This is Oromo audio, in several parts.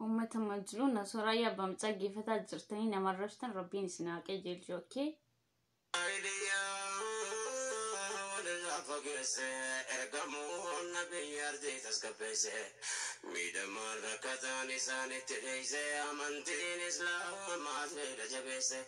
Uummata majluu na soraayyaa bam dhaggeeffataa jirtanii nama arrabsitan rabbiin isin haa qajeelchu okkee. walirraa fageesse ergamuun nabiyyi ardii tasgabbeesse miidhamaan rakkataan isaanitti dheeyse amantiin islaamaas miila jabeesse.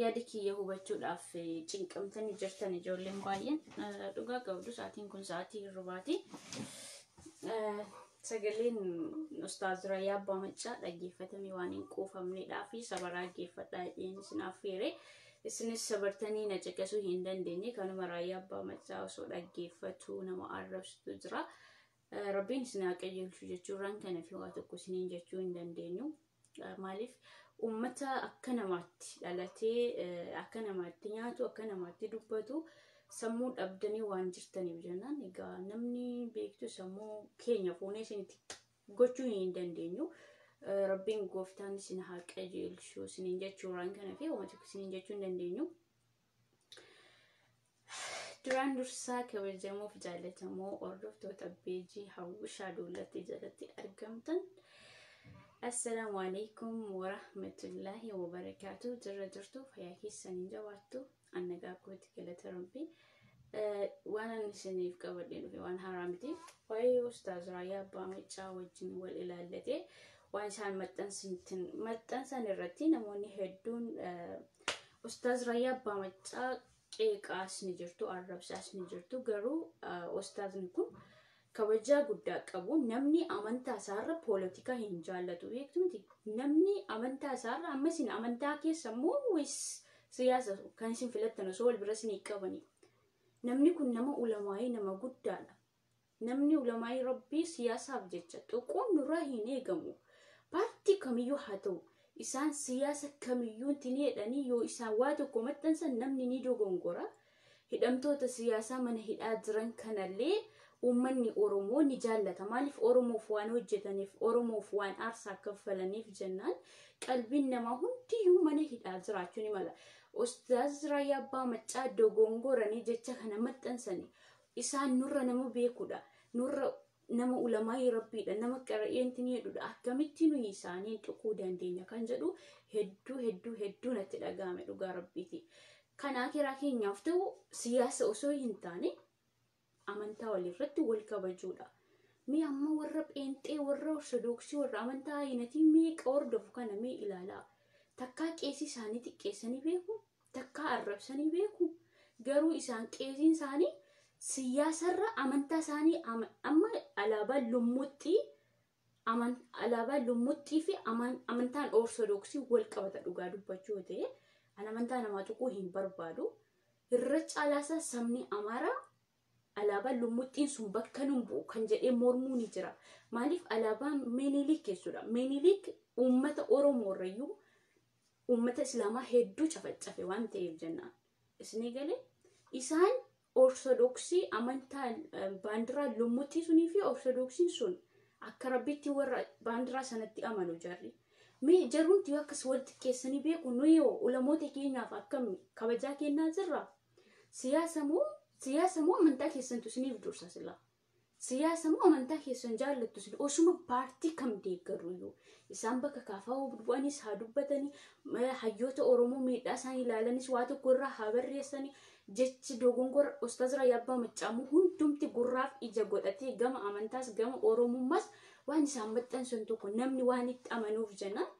Yaada kiyya hubachuudhaaf cinqamtanii jirtan ijoolleen baay'een dhugaa qabdu sa'aatiin kun sa'aatii hirribaati. Sagaleen Ustaaz Rayyaa Abbaa Maccaa dhaggeeffatamee waan hin quufamneedhaa fi sabaraa dhaggeeffadhaa jedheen isin affeere. Isinis sabartanii na caqasuu hin dandeenye kanuma Rayyaa Abbaa Maccaa osoo dhaggeeffatu nama arrabsitu jira. Rabbiin isin haa qajeelchu jechuurraan kana fi waa tokko isiniin jechuu hin dandeenyu. Maaliif uummata akka namaatti dhalatee akka namaatti nyaatu akka namaatti dubbatu sammuu dhabdanii waan jirtaniif jennaan egaa namni beektu sammuu keenya fuunee isinitti gochuu hin dandeenyu. Rabbiin gooftaan isin haa qajeelchu isiniin jechuuraan kana fi uummata isiniin jechuu hin dandeenyu. Duraan dursaa kabajamoo fi jaallatamoo hordoftoota beejii hawwishaa duulatti jalatti argamtan. Assalaamu alaikum warahmatullaahi wabarakaatu jirra jirtu fayyaa keessanii jabaattu annagaa kooti galata rabbi waan ani isiniif qabadhee dhufe waan haaraa miti waa'ee ustaaz raayyaa abbaa maccaa wajjin wal ilaallatee waan isaan maxxansan irratti namoonni hedduun Ustaaz Rayyaa Abbaa Maccaa qeeqaas ni jirtu, arrabsaas ni jirtu. Garuu ustaazni kun kabajaa guddaa qabu. Namni amantaa isaarra poolitikaa hin jaallatu beektu miti. Namni amantaa isaarra amma isin amantaa keessa immoo wayis siyaasa kan isin filattan osoo wal bira isin qabani. Namni kun nama ulamaa'ee nama guddaadha. Namni ulamaa'ii Rabbii siyaasaaf jecha tuquun nurraa hin eegamu. Paartii kamiyyuu haa ta'u, isaan siyaasa kamiyyuutti ni hidhanii yoo isaan waa tokko maxxansan namni ni dogongora. Hidhamtoota siyaasaa mana hidhaa jiran kanallee uummanni Oromoo ni jaallata. Maaliif Oromoof waan hojjetaniif, Oromoof waan aarsaa kaffalaniif jennaan qalbiin namaa hundiyyuu mana hidhaa jiraachuu ni mala. Ustaaz Raayyaa Abbaa Maccaa dogongoranii jecha kana maxxansanii. Isaan nurra nama beekudha. Nurra nama ulamaa'ii rabbiidha. Nama qara'eenti ni jedhudha. Akkamitti nuyi isaaniin tuquu dandeenya kan jedhu hedduu hedduu hedduu natti dhaga'ame dhugaa rabbiiti. Kan akiraa keenyaaf ta'u siyaasa osoo hin taane amantaa walirratti wal kabajuudha. Mee amma warra pheenxee, warra ortodoksii, warra amantaa ayinatii meeqa hordofu kana mee ilaalaa. Takkaa qeesii isaanii xiqqeessanii beeku, takkaa arrabsanii beeku garuu isaan qeesiin isaanii siyaasarra amantaa isaanii ama- amma alaabaa lummuxxii aman- alaabaa lummuxxii fi aman- amantaan ortodoksii wal qabata dhugaa dubbachuu yoo ta'e an amantaa namaa tuquu hin barbaadu irra caalaasaa sabni amaaraa Alaabaan lummuxxiin sun bakka nun bu'u kan jedhee mormuu ni jira. Maaliif alaabaan Minilik jechuudha. Minilik uummata Oromoo irrayyuu uummata Islaamaa hedduu cafaccafe waan ta'eef jennaan. Isinii galee isaan Ortodoksii amantaa eh, baandiraa lummuxxii sunii fi Ortodoksiin sun akka rabbiitti warra baandiraa sanatti amanu jarri. Mee jarumti yoo akkas wal xiqqeessanii beeku nuyi hoo ulamoota keenyaaf akkami kabajaa kennaa jirra? Siyaasa moo siyaasa moo amantaa keessantu isiniif dursa silaa? Siyaasa moo amantaa keessan jaallattu isin osuma paartii kam deeggaru iyyuu isaan bakka kaafaa bu'anis haa dubbatanii eh, hayyoota Oromoo miidhaa isaanii ilaalanis waa tokko irraa haa barreessanii jechi dogongora Ustaaz Raayyaa Abbaa Maccaamuu hundumti gurraaf ija godhatee gama amantaas gama Oromummaas waan isaan maxxansan tokko namni waan itti amanuuf jennaan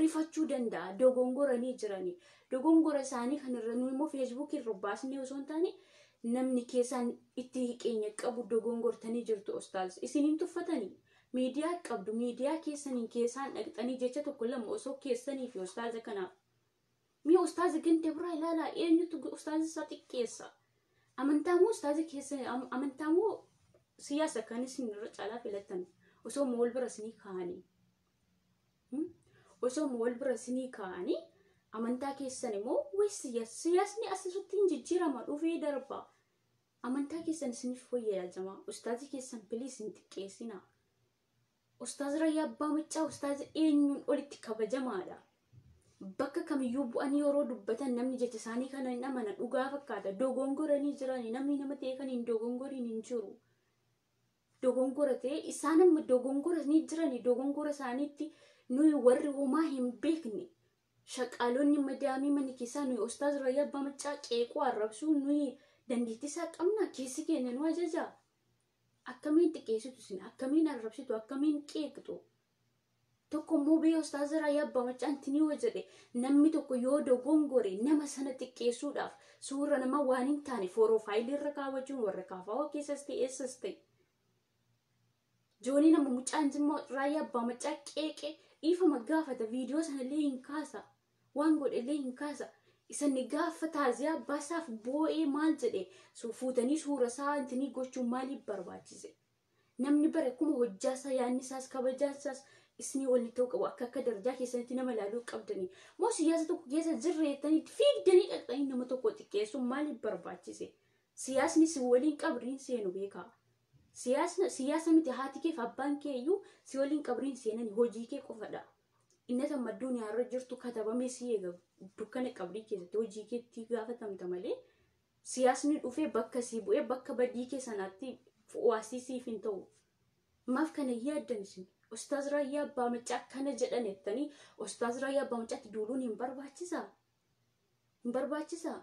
rifachuu danda'a dogongora ni jirani dogongora isaanii kan irra nu immoo feesbuukii irra baasnee osoo hin taane namni keessaan itti hiqeenya qabu dogongortanii jirtu ustaaz isiniin tuffatanii miidiyaa qabdu miidiyaa keessaniin keessaan dhaqxanii jecha tokko lama osoo keessanii fi ustaaza kanaaf mee ustaaza ganda biraa ilaalaa eenyutu ustaaza isaa xiqqeessa amantaa moo ustaaza keessa am- amantaa moo siyaasa kan isin irra caalaa filattan osoo mool bira isinii kaa'anii osooma wal bira isinii kaa'anii amantaa keessan immoo waysiya siyaasni asisutti hin jijjiirama dhufee darba amantaa keessan isiniif fooyya'aa jamaa ustaazii keessan piliis hin xiqqeessina ustaaz rayyaa abbaa maccaa ustaaz eenyuun olitti kabajamaadha bakka kamiyyuu bu'anii yeroo dubbatan namni jecha isaanii kana hin amana dhugaa fakkaata dogongoranii jiranii namni nama ta'e kan hin dogongoriin hin jiru. dogongora ta'e isaan amma dogongora ni jirani dogongora isaaniitti nuyi warri homaa hin beekne shaqaalonni madaamii mana keessaa nuyi ustaaz rayyaa abbaa maccaa qeequu arrabsuu nuyi dandeettii isaa qabna keessi keenya nu ajajaa akkamiin xiqqeessitu isin akkamiin arrabsitu akkamiin qeeqxu tokko immoo bee ustaaza raayyaa abbaa maccaan tinii wa jedhe namni tokko yoo dogongore nama sana xiqqeessuudhaaf suurra nama waan hin taane fooroofaayilii irra kaawwachuun warra kaafaawoo keessas ta'e eessas ta'e. Joonii nama mucaan jimma raayyaa abbaa maccaa qeeqe dhiifama gaafata viidiyoo sanallee hin kaasa waan godhellee hin kaasa. Isanni gaafa taaziyaa baasaaf boo'ee maal jedhe fuutanii suura isaa intinii gochuun maaliif barbaachise? Namni bara kuma hojjaa isaa yaanni isaas kabajaan isaas isinii waliin ta'uu qabu akka akka darajaa keessanitti nama ilaaluu qabdanii moo siyaasa tokko keessa jirra jettanii itti fiigdanii dhaqxanii nama tokko xiqqeessuun maaliif barbaachise siyaasni si waliin qabriin seenu beekaa siyaasna siyaasa miti haati keef abbaan kee iyyuu si waliin qabriin seenani hojii kee qofadha innata madduun yaarra jirtu katabamee si eega dukkana qabrii keessatti hojii keetti gaafatamta malee Siyaasni dhufee bakka sii bu'ee bakka badii kee sanaatti fu'uwaasii siif hin ta'u. Maaf kana hin yaaddan isin? Ustaaz Raayyaa Abbaa Maccaa akkana jedhan jettanii Ustaaz Raayyaa Abbaa Maccaatti duuluun hin barbaachisaa? Hin barbaachisaa?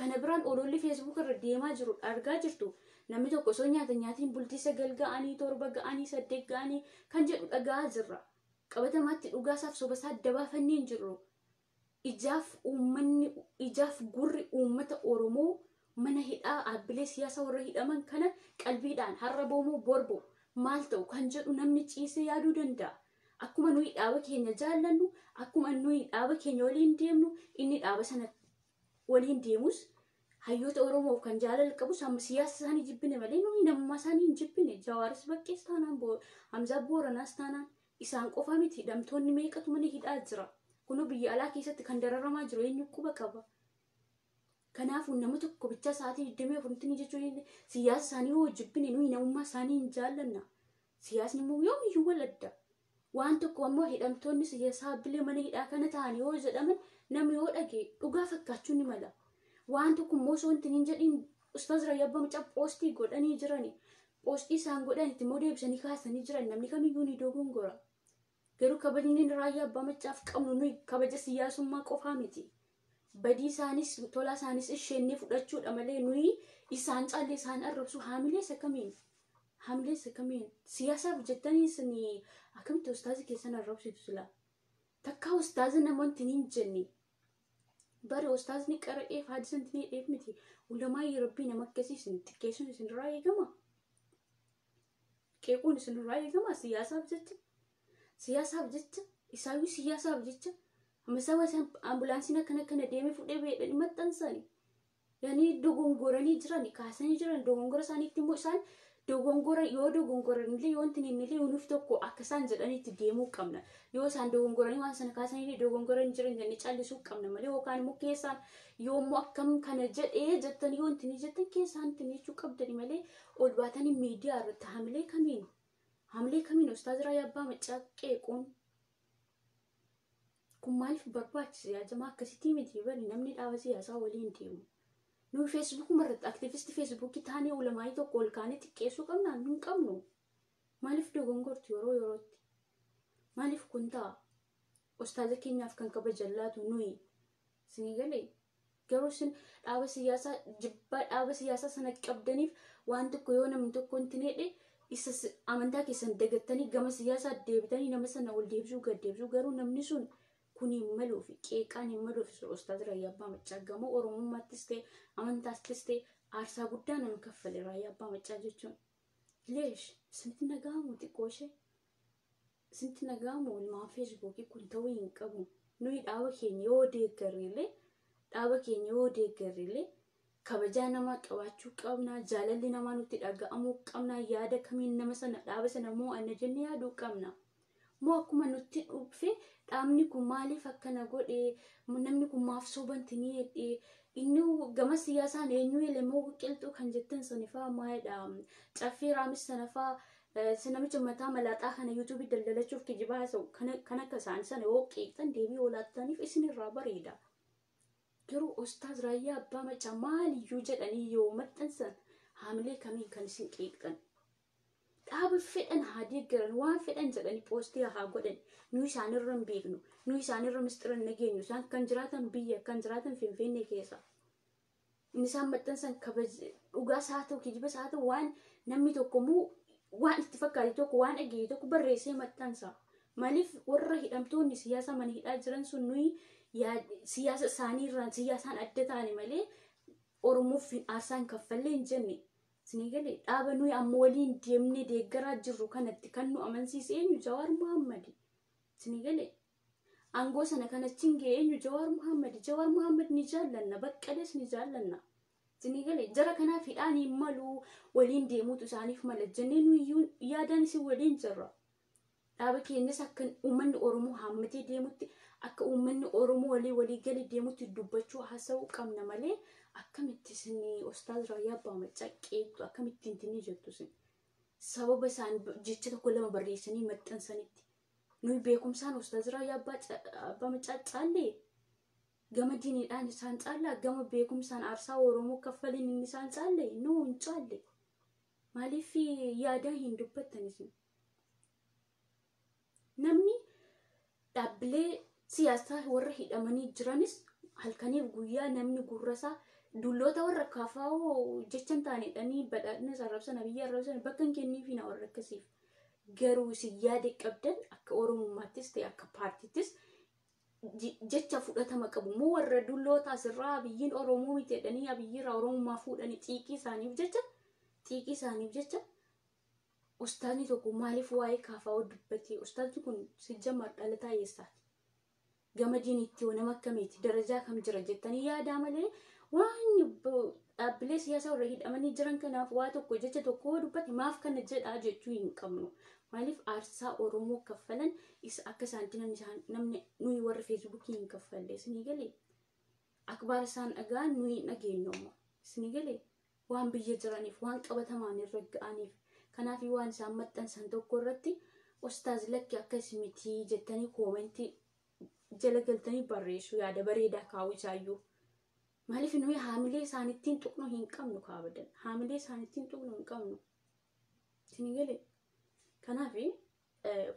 Kana biraan ololli Facebook irra deemaa jiru argaa jirtu. Namni tokko osoo nyaata nyaatiin bultii sagal ga'anii, torba ga'anii, saddeet ga'anii kan jedhu dhaga'aa jirra. Qabatamaatti dhugaasaaf sobasaa adda baafannee hin jirru. ijaaf uummanni ijaaf gurri uummata Oromoo mana hidhaa dhaabbilee siyaasa warra hidhaman kana qalbiidhaan har'a boomoo borbo maal ta'u kan jedhu namni ciisee yaaduu danda'a. Akkuma nuyi dhaaba keenya jaallannu, akkuma nuyi dhaaba keenya waliin deemnu, inni dhaaba sana waliin deemus hayyoota Oromoof kan jaalala qabus amma siyaasa isaanii jibbine malee nuyi namummaa isaanii hin jibbine. Jawaaris baqqees taanaan, Hamzaa Booranaas taanaan, Isaan qofa miti hidhamtoonni meeqatu mana hidhaa jira. Kunoo biyya alaa keessatti kan dararamaa jiru eenyu quba qaba. Kanaafuu nama tokko bichaa sa'aatii 24tti ni jechuu hin siyaasa isaanii hoo jibbine nuyi namummaa isaanii hin jaallanna. Siyaasni immoo yoomiyyuu wal adda. Waan tokko ammoo hidhamtoonni siyaasaa bilee mana hidhaa kana ta'an yoo jedhaman namni yoo dhage dhugaa fakkaachuu ni mala. Waan tokko immoo osoo hin jedhin ustaaz Rayyaa Bamcaa poostii godhanii jirani. Qoosxii isaan godhan itti immoo deebisanii kaasanii jiran namni kamiyyuu ni dogongora. Garuu kabajni raayyaa abbaa maccaaf qabnu nuyi kabaja siyaasummaa qofaa miti. Badii isaanis tolaa isaanis ishennee fudhachuudha malee nuyi isaan caalle isaan arrabsu haamilees akkamiin haamilees akkamiin siyaasaaf jettanii isin akkamitti ustaazi keessan arrabsitu sila takkaa ustaazi namoonni hin jenne Bari ustaazni qara'eef haadisa hin tineedheef miti. Ulamaayyi rabbii nama akkasii isin xiqqeessuun isinirraa eegama. Qeequun isinirraa eegama siyaasaaf jecha. Siyaasaaf jecha isaayyuu siyaasaaf jecha. Amma isaa waan isaan ambulaansiin akkana akkana deemee fudhee beedhanii maxxansani. yani dogongoranii jirani kaasanii jiran dogongora isaaniitti immoo isaan dogongora yoo dogongoran illee yoo wanti inni illee nuuf tokko akka isaan jedhanitti deemuu qabna yoo isaan dogongoranii waan sana kaasanii illee dogongoranii jiran jennee callisuu qabna malee yookaan immoo keessaan yoo immoo akkam kana jedhee jettan yoo wanti inni jettan keessaan itti miichuu qabdani malee ol baatanii miidiyaa irratti hamilee kamiinu hamilee kamiinu ustaazira yabbaa maccaa qeequun kun maaliif barbaachise yaa jamaa akkasitii miti bari namni dhaaba siyaasaa waliin deemu nuyi feesbuukuma irratti aktivisti feesbuukii taanee ulamaayii tokko ol kaanee xiqqeessuu qabna hin qabnu maaliif dogongortu yeroo yerootti maaliif kun ta'a ustaaza keenyaaf kan kabajan laatu nuyi Isinii galee? Garuu isin dhaaba siyaasaa jibbaa dhaaba siyaasaa sana qabdaniif waan tokko yoo namni tokko hin tineedhe isa si- amantaa keessan dagattanii gama siyaasaa deebitanii nama sana ol deebisuu gad deebisuu garuu namni sun kun hin maluu fi qeeqaan hin maluu fi ustaaz Raayyaa Abbaa Maccaa gamoo Oromummaattis ta'e amantaattis ta'e aarsaa guddaa nama kaffale Raayyaa Abbaa Maccaa jechuun. Leesh isinitti nagahamu xiqqoo ishee. Isinti nagaamu ilmaan feesbuukii kun ta'uu hin qabu. Nuyi dhaaba keenya yoo deeggarre illee dhaaba keenya yoo deeggarre illee kabajaa namaa qabaachuu qabna jaalalli namaa nutti dhaga'amuu qabna yaada kamiin nama sana dhaaba sana moo anna jenne yaaduu qabna. Moo akkuma nutti dhufe dhaabni kun maaliif akkana godhe namni kun maaf sobanti ni jedhe inni gama siyaasaan eenyu ele moo qilxuu kan jettan sanifaa maayidha caffee raamis sanafaa Isa namicha mataa malaaxaa kana yuutuubii daldalachuuf kijibaa haasa'u kan akka isaanii sana yoo qeeqxan deebii yoo laattaniif isinirraa bareeda. Garuu Ustaaz Raayyaa Abbaa Maccaa maaliyyuu jedhanii yoo maxxansan haamilee kamiin kan isin qeeqxan. Dhaaba fedhan haa deeggaran waan fedhan jedhanii poostii haa godhan nu isaanirra hin beeknu nu isaanirra mistira hin dhageenyu isaan kan jiraatan biyya kan jiraatan finfinnee keessa. Inni isaan maxxansan kabaja dhugaa isaa ta'u kijiba isaa ta'u waan namni tokko immoo waan itti fakkaate tokko waan dhageenye tokko barreessee maxxansa. Maaliif warra hidhamtoonni siyaasa mana hidhaa jiran sun nuyi yaa- siyaasa isaanii irraan siyaasaan adda taane malee Oromoof hin aarsaan kaffallee hin jenne. Isinii galee dhaaba nuyi amma waliin deemnee deeggaraa jirru kanatti kan nu amansiise eenyu Jawaar Mahaammadi. Isinii galee Aangoo sana kan achiin ga'e eenyu Jawaar Muhammad. Jawaar Muhammad ni jaallanna, baqqalees ni jaallanna. Isinii galee jara kanaaf hidhaan hin malu waliin deemuutu isaaniif mala jennee nuyyuu yaadaan isin waliin jirra. Dhaaba keenyas akka uummanni Oromoo haammatee deemutti akka uummanni Oromoo walii walii galee deemutti dubbachuu haasa'uu qabna malee akkamitti isin Ustaaz Raayyaa Abbaa Maccaa qeeqxu akkamitti intinni jettu isin. Sababa isaan jecha tokko lama barreessanii maxxansanitti nuyi beekumsaan ustaaz raayyaa abbaa ca- abbaa macaa caallee gama diiniidhaan isaan caallaa gama beekumsaan aarsaa oromoo kaffaliin inni isaan caalle nuu hin caalle maaliif yaadaa hin dubbattan isin namni dhaabbilee siyaasaa warra hidhamanii jiranis halkaniif guyyaa namni gurrasaa dulloota warra kaafaa'oo jechan taanedhanii badhaadhina arrabsan abiyyi arrabsan bakka hin kenniifiina warra akkasiif Garuu isin yaada qabdan akka Oromummaattis ta'e akka paartiittis je- jecha fudhatama qabu immoo warra dulloota asirraa abiyyiin Oromoo miti jedhanii abiyyiirraa Oromummaa fuudhanii xiiqii isaaniif jecha xiiqii isaaniif jecha ustaazni tokko maaliif waa'ee kaafaa dubbatee ustaazni kun sijjamar dhalataa eessaati? Gamadiin ittiyoo nama akkamiiti? Darajaa kam jira jettanii yaadaa malee waan dhaabbilee siyaasaa warra hidhamanii jiran kanaaf waa tokko jecha tokko yoo dubbate maaf kana jedhaa jechuu hin qabnu. Maaliif aarsaa Oromoo kaffalan isa akka isaanitti namni isaan namni nuyi warri feesbuukii hin kaffalle isinii galee? Akbaar isaan dhagaan nuyi hin dhageenyu ammoo isinii galee? waan biyya jiraniif, waan qabatamaan irra ga'aniif. Kanaafi waan isaan maxxansan tokko irratti ustaaz lakki akkas miti jettanii koomentii jala galtanii barreessu yaada bareedaa kaa'u isaayyuu. Maaliif nuyi haamilee isaanittiin tuqnu hin qabnu kaabadan. Haamilee isaanittiin tuqnu hin qabnu. Isin galee? Kanaafi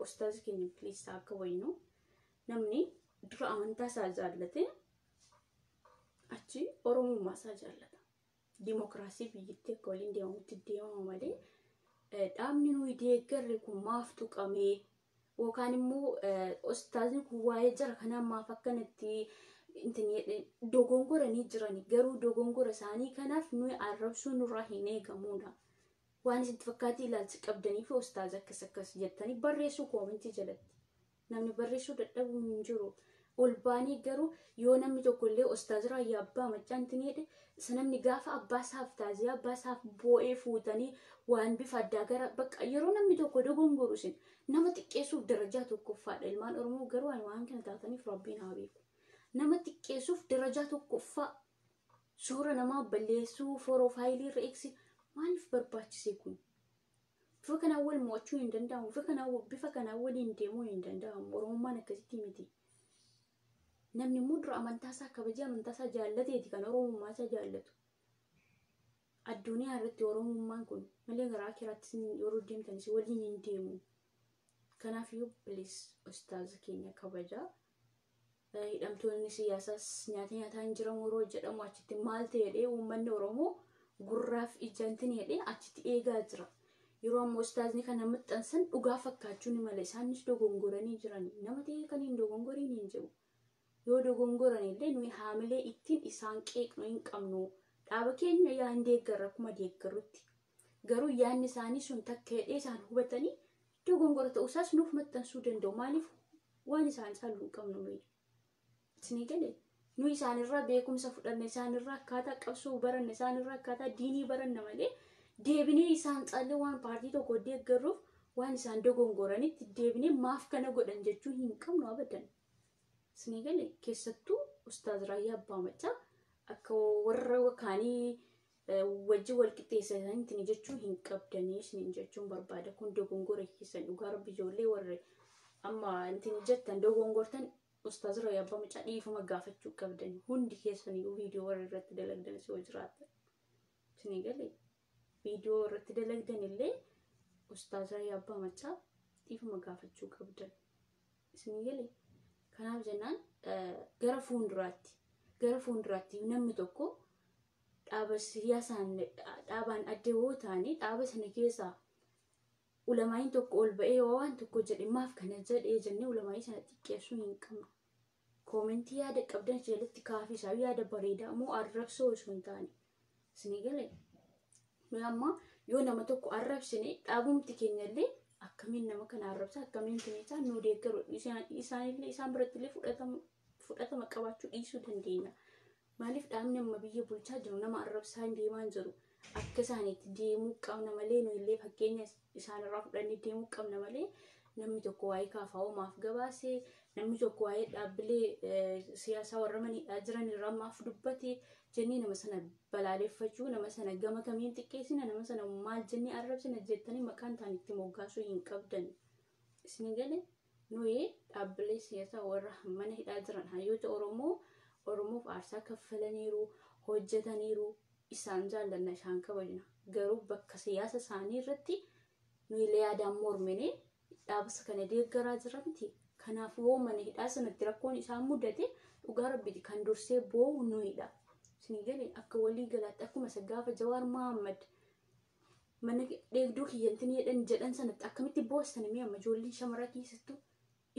ustaaz keenya please akka waynu namni dura amantaa isaa jaallate achi oromummaa isaa jaallata. dimokiraasii biyyattii akka waliin deemamutti deemama malee dhaabni nuyi deeggarre kun maaf tuqamee yookaan immoo ustaazni kun waa'ee jara kanaa maaf akkanatti dogongoranii jirani garuu dogongora isaanii kanaaf nuyi arrabsuu nurraa hin eegamuudha. Waan isin fakkaatee ilaalcha qabdanii fi ustaaza akkas akkas jettanii barreessuu koomentii jalatti. Namni barreessuu dadhabu hin jiru. Ol baanee garuu yoo namni tokko illee ostaaziraa yaa abbaa maccaan tiniidhe isa namni gaafa abbaa isaaf taaziyaa abbaa isaaf boo'ee fuutanii waan bifa addaa gara bakka yeroo namni tokko dogongoru isin nama xiqqeessuuf darajaa tokkoffaadha ilmaan oromoo garuu ani waan kana taataniif rabbiin haa beeku nama xiqqeessuuf darajaa tokkoffaa suura namaa balleessuu foroofaayilii irra eegsi maaliif barbaachise kun bifa kanaan wal mo'achuu hin danda'amu bifa kanaan bifa kanaan waliin deemuu hin danda'amu oromummaan akkasitti miti namni immoo dura amantaa isaa kabajee amantaa isaa jaallateeti kan oromummaa isaa jaallatu addunyaa irratti oromummaan kun malee garaa kiraattis yeroo deemtanis waliin hin deemu kanaaf iyyuu bilis ustaaza keenya kabajaa hidhamtoonni siyaasaas nyaata nyaataa hin jiran waroo jedhamu achitti maal ta'edhee uummanni Oromoo gurraaf ijantin jedhee achitti eegaa jira. Yeroo ammoo ustaazni kana maxxansan dhugaa fakkaachuu ni mala isaanis dogongoranii jiran nama ta'ee kan hin dogongoriin hin jiru. Yoo dogongoran illee nuyi haamilee ittiin isaan qeeqnu hin qabnu. Dhaaba keenya yaa hin deeggarra akkuma deeggarrutti Garuu yaadni isaanii sun takka hidhee isaan hubatanii dogongora ta'uu isaas nuuf maxxansuu danda'u. Maaliif waan isaan caalu hin qabnu nuyi. Isinii galee? Nu isaanirraa beekumsa fudhanne isaanirraa akkaataa qabsoo baranne isaanirraa akkaataa diinii baranna malee deebinee isaan caallee waan paartii tokko deeggarruuf waan isaan dogongoranitti deebinee maaf kana godhan jechuu hin qabnu abadan. Isinii galee? Keessattuu ustaaz Raayyaa Abbaa Maccaa akka warra kaanii wajjin wal qixxeessitanii jechuu hin qabdanii isiniin jechuun barbaada kun dogongora keessan dhugaa rabbi ijoollee warri amma intin jettan dogongortan ustaaz rayyaa abbaa mucaa dhiifama gaafachuu qabdan hundi keessanii viidiyoo warri irratti dalagdan si hojiraata isinii galee viidiyoo irratti dalagdan illee ustaaz rayyaa abbaa mucaa dhiifama gaafachuu qabdan isinii galee kanaaf jennaan gara fuulduraatti gara fuulduraatti namni tokko dhaaba siyaasaan dhaabaan adda yoo taane dhaaba sana keessaa ulamaa'iin tokko ol ba'ee yoo waan tokko jedhe maaf kana jedhee jennee ulamaa'ii sana xiqqeessuu hin qabnu. Koomentii yaada qabdan jalatti kaafisaa yaada bareedaa moo arrabsoo osoo hin taane. Isinii galee? Nuyi amma yoo nama tokko arrabsine dhaabumti keenyallee akkamiin nama kana arrabsa akkamiin keenyachaa nu deeggaru isaanillee isaan birattillee fudhatama qabaachuu dhiisuu dandeenya. Maaliif dhaabni amma biyya bulchaa jiru nama arrabsaa hin deemaan jedhu akka isaaniitti deemuu qabna malee nu illee fakkeenya isaanirraa fudhannee deemuu qabna malee namni tokko waa'ee kaafaa'oo maaf gabaase namni tokko waa'ee dhaabbilee siyaasaa warra maniidhaa jiran irraa maaf dubbate jennee nama sana balaaleffachuu nama sana gama kamiin xiqqeessina nama sana maal jennee arrabsina jettanii maqaan isaanii itti moggaasuu hin qabdan. Isin gale nuyi dhaabbilee siyaasaa warra mana hidhaa jiran hayyoota Oromoo Oromoof aarsaa kaffalaniiru, hojjetaniiru, isaan jaallanna, isaan kabajna. Garuu bakka siyaasa isaanii irratti nuyi illee yaadaan mormine dhaabasa kana deeggaraa jira miti. Kanaaf yoo mana hidhaa sanatti rakkoon isaan mudate dhugaa rabbiiti kan dursee boo'u nuyidha. Isin gale akka walii galaatti akkuma isa gaafa Jawaar Mahammad mana dheegduu kiyyantin jedhan jedhan sanatti akkamitti boostan mee amma ijoolleen shamaraa keessattu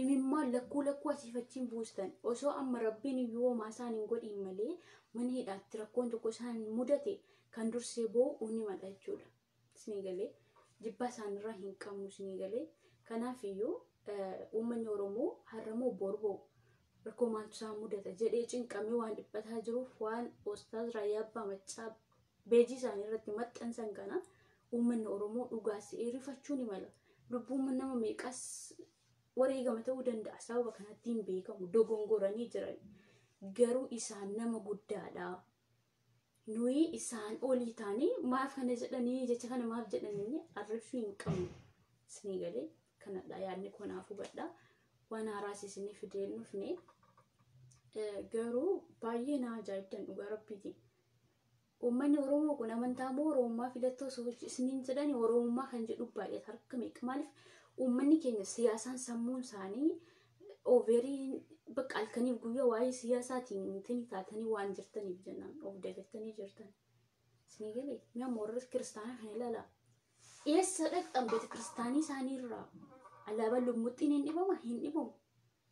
imimmaan lakkuu lakkuu asiif achiin buustan osoo amma rabbiin yoomaa isaan hin godhiin malee mana hidhaatti rakkoon tokko isaan mudate kan dursee boo'u uni madha jechuudha. Isinii galee jibbaa isaanirraa hin qabnu isinii galee kanaaf iyyuu uummanni Oromoo har'amoo borboo rakkoo maaltu isaan mudata jedhee cinqamee waan dhiphataa jiruuf waan Ostaaz Raayyaa Abbaa Maccaa Beejii isaanii irratti maxxansan kana uummanni Oromoo dhugaas se'ee rifachuu ni mala. Lubbuun nama meeqas wareegama ta'uu danda'a. Sababa kanatti hin beekamu. Dogongoranii jiran. Garuu isaan nama guddaadha. Nuyi isaan olii taanee maaf kana jedhanii jecha kana maaf jedhanii arrabsuu hin qabnu. Isinii galee kanadha yaadni koo naaf hubadha. Waan haaraas isinii fidee hin dhufne. Garuu baay'ee na ajaa'ibdan dhugaa rabbiitiin. Uummanni Oromoo kun amantaa moo Oromummaa filatta osoo isiniin jedhani Oromummaa kan jedhu baay'ata harka meeqa maaliif uummanni keenya siyaasaan sammuun isaanii overii bakka halkaniif guyyaa waa'ee siyaasaatiin intini taatanii waan jirtaniif jennaan of dagattanii jirtan. Isinii galee mi'a moorri kiristaanaa kan ilaalaa. Eessa dhaqxan beeta kiristaanii isaanii irraa alaabaan lumuxxiin hin dhibama hin dhibamu.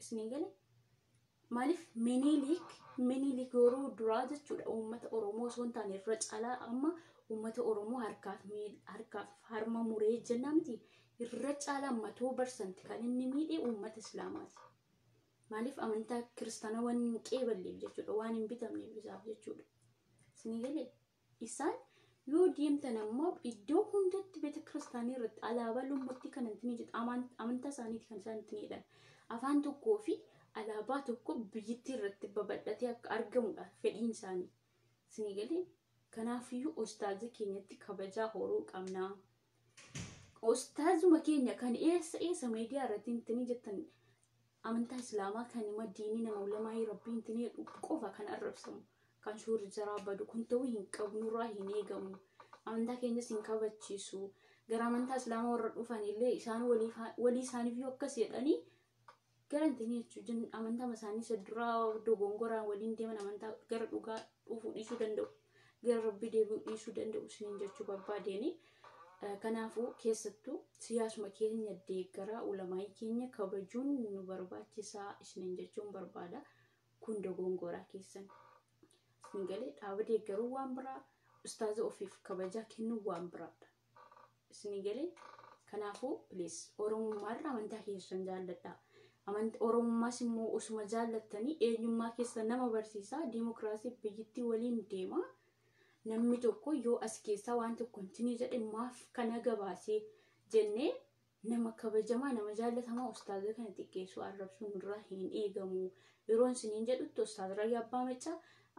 isin hin gale maaliif miniiliik miniiliik yeroo duraa jechuudha uummata oromoo osoo hin taane irra caalaa amma uummata oromoo harkaaf miil harkaaf harma muree jennaa miti irra caalaa matuu barsanti kan inni miidhe uummata islaamaati maaliif amantaa kiristaanaa waan hin qeeballeef jechuudha waan hin bitamneef isaaf jechuudha isin galee Isaan yoo deemtan ammoo iddoo hundatti beeta kiristaanii irratti alaabaa lommotti kan ittiin jedhu amantaa isaaniiti kan isaan ittiin jedhan afaan tokkoo fi alaabaa tokko biyyittii irratti babal'atee akka argamudha fedhiin isaanii. Isinii galee kanaafiyyuu ustaaza keenyatti kabajaa horuu qabna. Ustaazuma keenya kan eessa eessa miidiyaa irratti ittiin jettan amantaa islaamaa kan ima diinii nama ulamaa'ii rabbiin itti jedhu qofa kan arrabsamu kan suurri jaraa badu kun ta'uu hin qabu nurraa hin eegamu amantaa keenyas hin kabachiisu gara amantaa islaamaa warra dhufan illee isaan walii isaaniif yoo akkas jedhanii gara itti jechuun amantaa isaanii isa duraa dogongoraan waliin deeman amantaa gara dhugaa dhufuu dhiisuu danda'u. gara rabbii deebi'uu dhiisuu danda'u isiniin jechuu barbaadeeni. Kanaafuu keessattuu siyaasuma keenya deeggaraa ulamaa'ii keenya kabajuun nu barbaachisaa isiniin jechuun barbaada. Kun dogongoraa keessan. Isin galee dhaaba deeggaruu waan biraa, ustaaza ofiif kabajaa kennuu waan biraadha. Isinii galee kanaafuu please oromummaa irra amantaa keessan jaalladha. Amant oromummaas immoo osuma jaallattanii eenyummaa keessa nama barsiisa diimokiraasii biyyittii waliin deema. Namni tokko yoo as keessaa waan tokko hintinii jedhe maaf kana gabaasee jennee Nama kabajamaa, nama jaallatamaa ustaaza kana xiqqeessuu, arrabsuu nurraa hin eegamu. Yeroon isiniin jedhutti ustaaz Rayyaa Abbaa Maccaa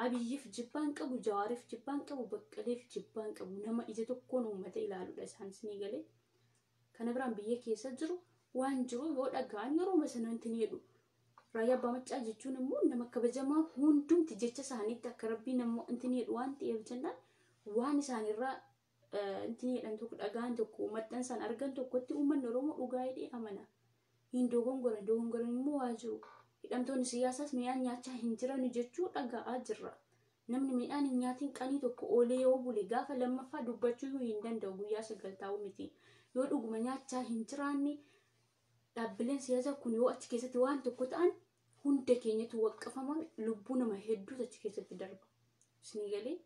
Abiyyiif jibbaan qabu, Jawaariif jibbaan qabu, Baqqaleef jibbaan qabu. Nama ija tokkoon uummata ilaaludha isaan isinii galee. Kana biraan biyya keessa jiru waan jiru yoo dhaga'an yeroo sana wanti ni jedhu. Rayyaa Abbaa Maccaa jechuun immoo nama kabajamaa hundumti jecha isaaniitti akka rabbii nama wanti ni jedhu waan ta'eef jennaan waan isaanirraa Inti jedhan tokko dhagaan tokko maxxansaan argan tokkotti uummanni Oromoo dhugaa hidhee amana. Hin dogongoran dogongoran immoo waa jiru. Hidhamtoonni siyaasaas midhaan nyaachaa hin jiranu jechuu dhaga'aa jirra. Namni midhaan hin nyaatiin qanii tokko oolee yoo bule gaafa lammaffaa dubbachuu hin danda'u guyyaa sagal taa'u miti. Yoo dhuguma nyaachaa hin jiraanne dhaabbileen siyaasaa kun yoo achi keessatti waan tokko ta'an hunda keenyatu waqqafama lubbuu nama hedduutu achi keessatti darba. Isinii galee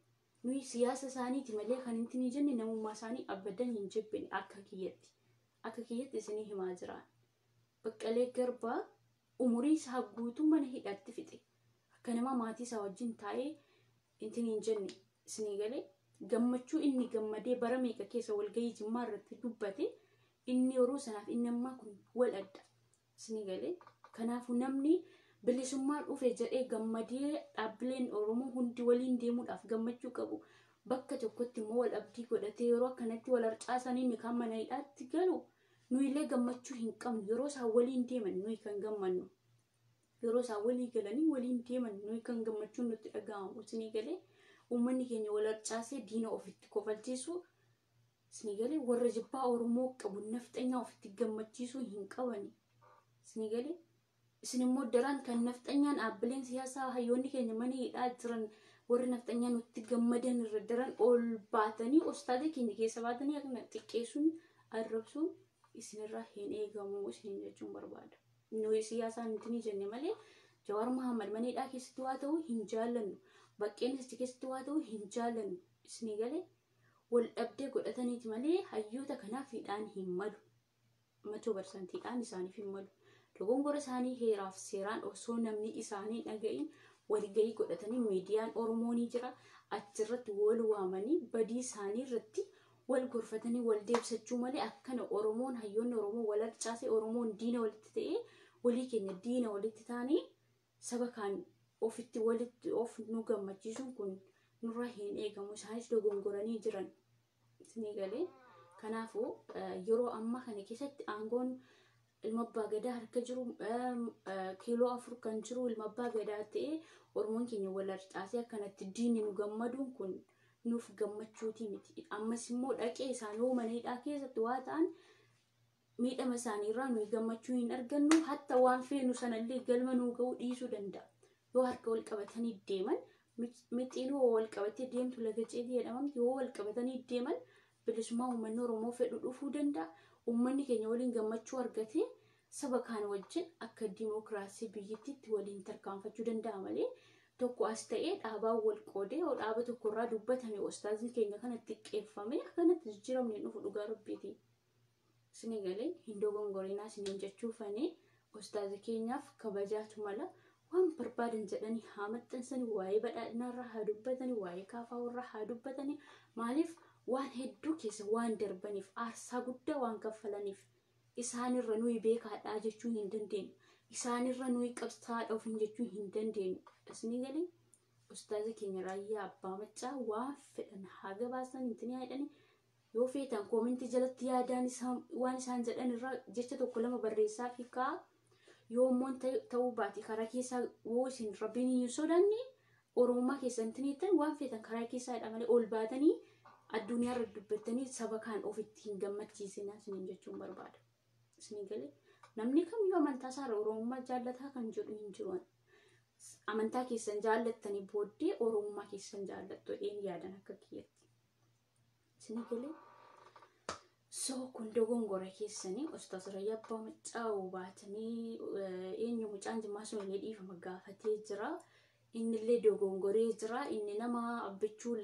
Nuyi siyaasa isaaniiti malee kan hin tinii jenne namummaa isaanii abadan hin jibbine akka kiyyatti. Akka kiyyatti isinii himaa jiraan. Baqqalee Garbaa umurii isaa guutuu mana hidhaatti fixe. Akka nama maatii isaa wajjin taa'ee hin tiniin jenne isinii galee gammachuu inni gammadee bara meeqa keessa walgahii jimmaa irratti dubbate inni yeroo sanaaf inni ammaa kun wal adda. Isinii galee kanaafuu namni bilisummaa dhufe jedhee gammadee dhaabbileen Oromoo hundi waliin deemuudhaaf gammachuu qabu. Bakka tokkotti immoo wal abdii godhatee yeroo akkanatti wal harcaasanii inni kaan mana hidhaatti galu nuyillee gammachuu hin qabnu yeroo isaan waliin deeman nuyi kan gammannu. Yeroo isaan walii galanii waliin deeman nuyi kan gammachuun nutti dhaga'amu isinii galee uummanni keenya wal harcaasee diina ofitti kofalchiisu Isinii galee warra jibbaa Oromoo qabu nafxanyaa ofitti gammachiisuu hin qabani. Isinii galee isin immoo daran kan nafxanyaan dhaabbileen siyaasaa hayyoonni keenya mana hidhaa jiran warri nafxanyaa nutti gammadan irra daran ol baatanii ostaatee keenya keessa baatanii akkana xiqqeessuun arrabsuun isinirraa hin eegamu isin jechuun barbaada. Nuyi siyaasaan nuti ni jenne malee Jawaar Muhammad mana hidhaa keessatti waa ta'u hin jaallannu. Baqqeen achi keessatti waa ta'u hin jaallannu. Isinii galee wal dhabdee godhataniiti malee hayyoota kanaaf hidhaan hin malu. Machoo barsanti hidhaan isaaniif hin malu. Dogongora isaanii heeraaf seeraan osoo namni isaanii dhaga'iin walgahii godhatanii miidiyaan Oromoo ni jira. Achirratti wal waamanii badii isaanii irratti wal gorfatanii wal deebisachuu malee akkana Oromoon hayyoonni Oromoo wal harcaasee Oromoon diina walitti ta'ee walii keenya diina walitti taanee saba kaan ofitti walitti of nu gammachiisuun kun nurraa hin eegamu isaanis dogongoranii jiran isinii galee kanaafuu yeroo ammaa kana keessatti aangoon ilma abbaa gadaa harka jiru kiiloo afur kan jiru ilma abbaa gadaa ta'ee oromoon keenya wal harcaasee akkanatti diinni nu gammaduun kun nuuf gammachuutii miti ammas immoo dhaqee isaan yoo mana hidhaa keessatti waa ta'an miidhama isaanii irraa nuyi gammachuu hin argannu hatta waan feenu sanallee galma nuu ga'uu dhiisuu danda'a yoo harka wal qabatanii deeman mixiin hoo wal qabattee deemtu laga ceetii jedhamamti yoo wal qabatanii deeman bilisummaa uummanni oromoo fedhu dhufuu danda'a uummanni keenya waliin gammachuu argatee saba kaan wajjin akka dimookiraasii biyyittiitti waliin tarkaanfachuu danda'a malee tokko as ta'ee dhaabaa wal qoodee yoo dhaaba tokkorraa dubbatame ustaazni keenya kana xiqqeeffame akkanatti jijjiiramni hin dhufu dhugaa rabbiitiin. Sini galee hin dogongorinaa siniin jechuu fanii ustaaza keenyaaf kabajaatu mala waan barbaadan jedhanii haa maxxansanii waa'ee badhaadhinaa irraa haa dubbatanii waa'ee kaafaa irraa haa dubbatanii maaliif waan hedduu keessa waan darbaniif aarsaa guddaa waan kaffalaniif isaanirra nuyi beekaadhaa jechuu hin dandeenyu isaanirra nuyi qabsaadha ofiin jechuu hin dandeenyu isinii galee ustaaza keenya raayyaa abbaa maccaa waan fedhan haa gabaasan intinii haadhanii Yoo feetan koomentii jalatti yaadaan isaan waan isaan jedhan irraa jecha tokko lama barreessaa fi kaa yoo immoo ta- ta'uu baate karaa keessaa yoo isin rabbiin hin sodaanne oromummaa keessan tiniittan waan feetan karaa keessaa jedha malee ol baatanii addunyaa irra dubbattanii saba kaan ofitti hin gammachiisinaa isiniin jechuun barbaada. Isinii galee namni kamiyyuu amantaa isaarra oromummaa jaallataa kan jedhu hin jiru. ani. Amantaa keessan jaallattanii booddee oromummaa keessan jaallattu jedheen yaadan akka kiyyatti. Isin galee soo kun dogongora keessanii ustaas Rayyaa Abbaa Maccaa'u baatanii eh, eenyu mucaan jimmaa sun illee dhiifama gaafatee jira. Inni illee dogongoree jira. Inni nama abbichuu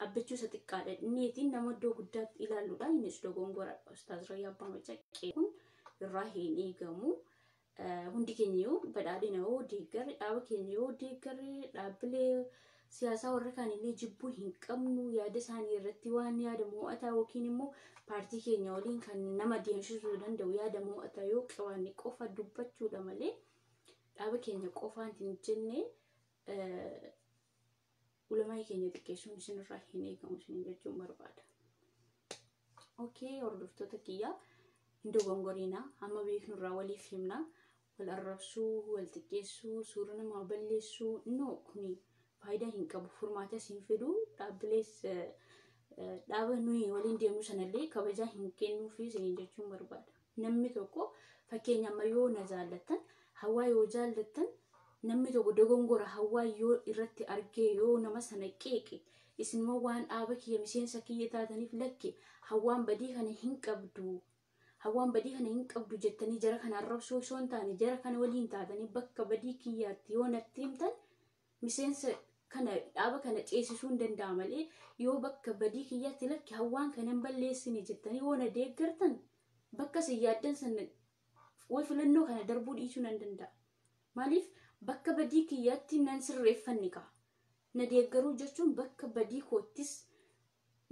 abbichuu isa xiqqaadha. Inniitiin nama iddoo guddaatti ilaaluudha. Innis dogongoradha. Ustaas Rayyaa Abbaa Maccaa'u kun irraa hin eegamu. Hundi keenya yoo badhaadhina yoo deeggarre dhaaba keenya yoo deeggarre dhaabbilee siyaasaa warra kaanillee jibbuu hin qabnu yaada isaanii irratti waan yaada mo'ataa yookiin immoo paartii keenya waliin kan nama deemsisuu danda'u yaada mo'ataa yoo qabaanne qofa dubbachuudha malee dhaaba keenya qofaan hin jenne Ulamaa'ii keenya xiqqeessuun isinirraa hin eegamu isiniin jechuun barbaada. Okee hordoftoota kiyyaa hin dogongoriina amma beeknurraa waliif himna wal arrabsuu wal xiqqeessuu suura namaa balleessuu no kuni faayidaa hin qabu furmaatas hin fidu dhaabbilees eh, eh, dhaaba nuyi waliin deemnu sanallee kabajaa hin kennuufi isiniin jechuun barbaada. Namni tokko fakkeenya amma yoo na jaallattan hawaa yoo jaallattan namni tokko dogongora hawaa yoo irratti argee yoo nama sana qeeqe isinuma waan dhaaba kiyya miseensa kiyya taataniif lakki hawaan badii kana hin qabdu hawaan badii kana hin qabdu jettanii jara kana arrabsuu osoo hin taane jara kana waliin taatanii bakka badii kiyyaatti yoo natti himtan miseensa kana dhaaba kana ceesisuun danda'a malee yoo bakka badii kiyyaatti lakki hawwaan kana hin balleessine jettanii yoo na deeggartan bakka isin yaaddan sana way filannoo kana darbuu dhiisuu nan danda'a. Maaliif bakka badii kiyyaatti nan sirreeffanni ka'a. Na deeggaruu jechuun bakka badii koottis